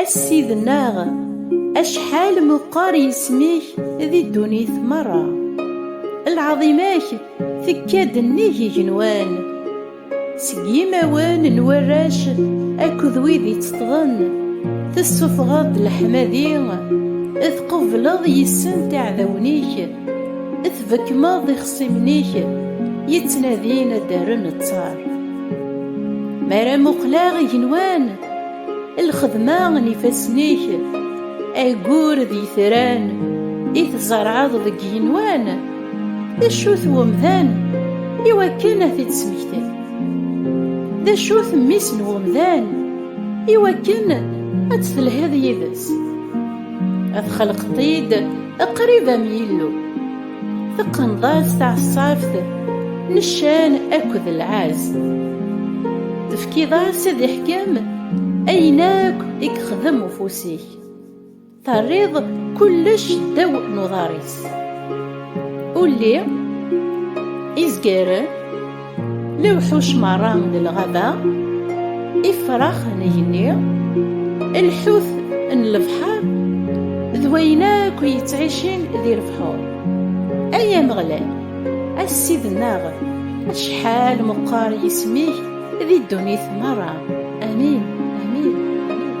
A Ssid-nneɣ, acḥal meqqer yisem-ik di ddunit merra! Lɛaḍima-k tekka-d nnig igenwan. Seg yimawen n warrac akked wid itteṭṭḍen, tessufɣeḍ-d leḥmadi, tqubleḍ yis-sent iɛdawen-ik, tbekkmeḍ ixṣimen-ik yettnadin ad d-rren ttar. Mi ara muqleɣ igenwan, lxedma n ifassen-ik ayyur d yitran i tzerɛeḍ deg yigenwan d acu-t wemdan i wakken ad t-id-smektin d acu-t mmi-s n wemdan i wakken ad telhiḍ yid-s ad xelqeḍ-t-id qrib am yillu Teqneḍ-as taɛeṣṣabt n ccan akked lɛaz. Tefkiḍ-as ad iḥkem ayen akk i yexdem ufus-ik. Terriḍ kullec ddaw n uḍar-is. Ulli izgaren Lewḥuc meṛṛa n lɣaba, ifrax n igenni, lḥut n lebḥer d wayen akk yettɛicin di lebḥur. Ay Ameɣlal, a Ssid-nneɣ, acḥal meqqer yisem-ik di ddunit meṛṛa! Amin, amin, amin.